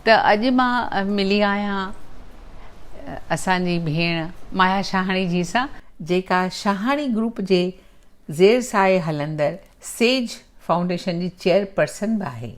ته اڄ مان ملي آهيان اسان جي ڀيڻ مايا شاهاڻي جي سان. جيڪا شاهاڻي گروپ جي زير سايي هلندڙ سيج فائونڊيشن جي چيئرپرسن به آهي.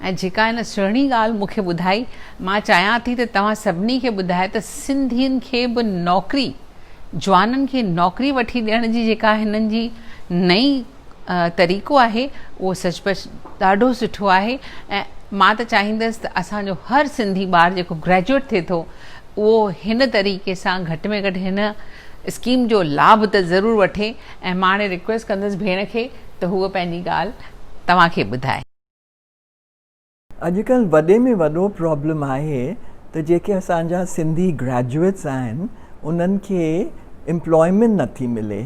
۽ جيڪا هن سهڻي ڳالهه مون کي ٻڌائي، مان چاهيان ٿي ته توهان سڀني کي ٻڌايان ته سنڌين کي به نوڪري، جوانن کي نوڪري وٺي ڏيڻ جي جيڪا هنن جي نئين طريقو آهي، اهو سچ پچ ڏاڍو سٺو آهي ۽ مان ته چاهيندس ته اسان جو هر سنڌي ٻار جيڪو گريجوئيٽ ٿئي ٿو، اهو هن طريقي سان گهٽ ۾ گهٽ هن اسڪيم جو لاڀ ته ضرور وٺي. ۽ مان هاڻي ريڪويسٽ ڪندس ڀيڻ کي ته هوء پنهنجي ڳالهه توهان کي ٻڌائي. اڄڪلهه وڏي ۾ وڏو پرابلم آهي ته جيڪي اسان جا سنڌي گريجوئيٽس آهن انهن کي امپلائمينٽ نه ٿي ملي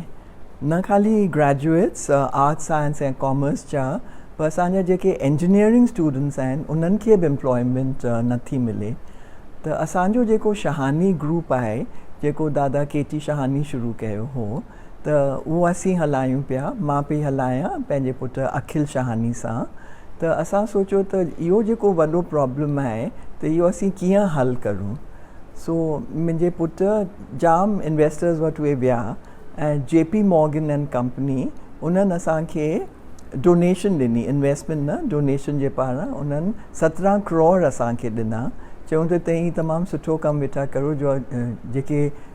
نه خالي گريجوئيٽس آرٽس سائنس ۽ ڪامرس جا پر اسان جا جيڪي انجنيئرنگ اسٽوڊنٽس آهن انهن کي به امپلائمينٽ نه ٿي ملي ته اسان جو جيڪو شهاني گروپ آهي جيڪو دادا ڪي ٽي شهاني شروع ڪيو هو ته اهو اسين هلايون پيا، مان پئي هلايان پنهنجي پٽ اکل شهاني سان ته اسان سوچيو ته اهو جيڪو وڏو پرابلم آهي ته اهو اسين ڪيئن حل ڪرون سو منهنجي پٽ جام انويسٽرز وٽ اهي ويا ۽ J P Morgan and company انهن اسان کي ڊونيشن ڏني انويسٽمينٽ نه ڊونيشن جي پاران انهن سترهن ڪروڙ اسان کي ڏنا چيون ته تهين تمام سٺو ڪم ويٺا ڪرو جو جيڪي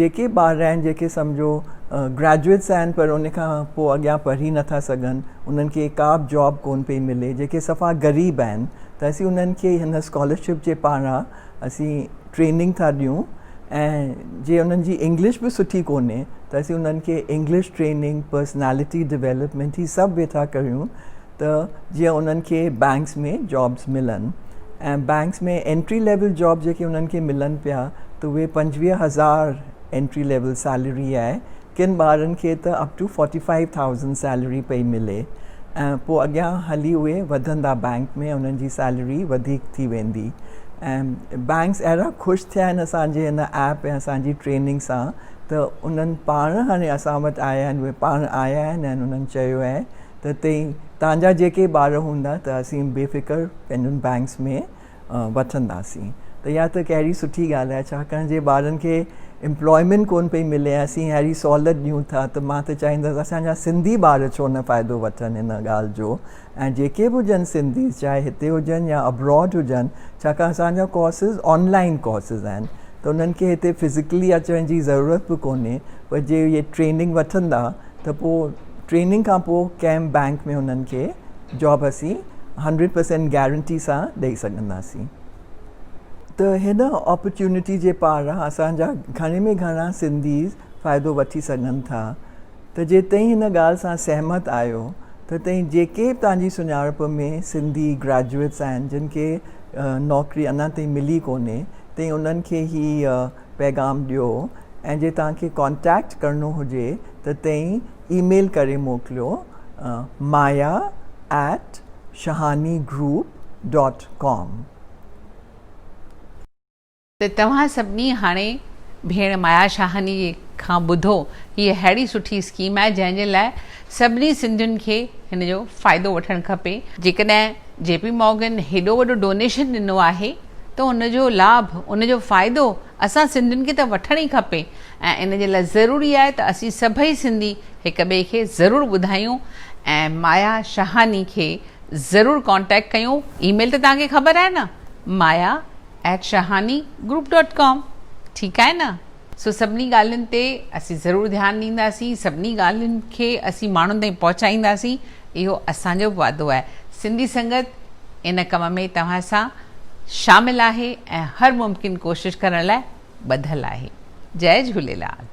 جيڪي ٻار آهن جيڪي سمجهو گريجوئيٽس آهن پر ان کان پوء اڳيان پڙهي نٿا سگهن انهن کي ڪا به جاب ڪون پئي ملي جيڪي صفا غريب آهن ته اسين انهن کي هن اسڪالرشپ جي پاران اسين ٽريننگ ٿا ڏيون ۽ جي انهن جي انگلش به سٺي ڪونهي ته اسين انهن کي انگلش ٽريننگ پرسنالٽي ڊيولپمينٽ هي سڀ ويٺا ڪريون ته جيئن انهن کي بئنڪس ۾ جابس ملن ۽ بئنڪس ۾ انٽري ليول جاب جيڪي انهن کي ملن پيا ته اهي پنجويهه هزار انٽري ليول سيلري آهي ڪن ٻارن کي ته up to forty five thousand salary پئي ملي ۽ پوء اڳيان هلي اهي وڌندا بئنڪ ۾ انهن جي سيلري وڌيڪ ٿي ويندي ۽ بئنڪس اهڙا خوش ٿيا آهن اسان جي هن ايپ ۽ اسان جي ٽريننگ سان ته انهن پاڻ هاڻي اسان وٽ آيا آهن اهي پاڻ آيا آهن ۽ انهن چيو آهي ته تئين تهانجا جيڪي ٻار هوندا ته اسين بي فڪر پنهنجن بئنڪس ۾ وٺنداسين ته اها ته ڪهڙي سٺي ڳالهه آهي ڇاڪاڻ جي ٻارن کي امپلائمينٽ ڪون پئي ملي ۽ اسين اهڙي سهولت ڏيون ٿا ته مان ته چاهيندس اسان جا سنڌي ٻار ڇو نه فائدو وٺن هن ڳالهه جو ۽ جيڪي به هجن سنڌيز چاهي هتي هجن يا ابراڊ هجن ڇاڪاڻ اسان جا ڪورسز آن لائين ڪورسز آهن ته انهن کي هتي فزيڪلي اچڻ جي ضرورت به ڪونهي پر جي اهي ٽريننگ وٺندا ته پوء ٽريننگ کان پوء ڪنهن بئنڪ ۾ انهن کي جاب اسين هنڊريڊ پرسينٽ گيرنٽي سان ڏئي سگهنداسين ته هن اپرچونٽي جي پاران اسان جا گهڻي ۾ گهڻا سنڌي فائدو وٺي سگهن ٿا ته جي توهين هن ڳالهه سان سهمت آهيو ته توهين جيڪي به توهان جي سڃاڻپ ۾ سنڌي گريجوئيٽس آهن جن کي نوڪري اڃا تائين ملي ڪونهي توهين انهن کي هي پيغام ڏيو ۽ جي توهان کي ڪانٽيڪٽ ڪرڻو هجي ته تئين اي ميل ڪري موڪليو Maya at Shahani group dot com. ته توهان سڀني هاڻي ڀيڻ مايا شاهاني جي کان ٻڌو هيء اهڙي سٺي اسڪيم آهي جنهن جي لاء سڀني سنڌين کي هن جو فائدو وٺڻ کپي. جيڪڏهن جي پي مارگن هيڏو وڏو ڊونيشن ڏنو آهي ته ان جو لاڀ، ان جو فائدو اسان سنڌين کي ته وٺڻ ئي کپي ۽ ان جي لاء ضروري آهي ته اسين سڀئي سنڌي هڪ ٻئي کي ضرور ٻڌايون ۽ مايا شاهاني کي ضرور ڪانٽيڪٽ ڪيون اي ميل ته توهان کي خبر آهي نه Maya at Shahani group dot com ٺيڪ آهي نه. سو سڀني ڳالهين تي اسين ضرور ڌيان ڏينداسين، سڀني ڳالهين کي اسين ماڻهن تائين پهچائينداسين، اهو اسان جو به وعدو آهي. سنڌي سنگت ان ڪم ۾ توهان سان شامل آهي ۽ هر ممڪن ڪوشش ڪرڻ لاء ٻڌل آهي. جئي جهوليلال.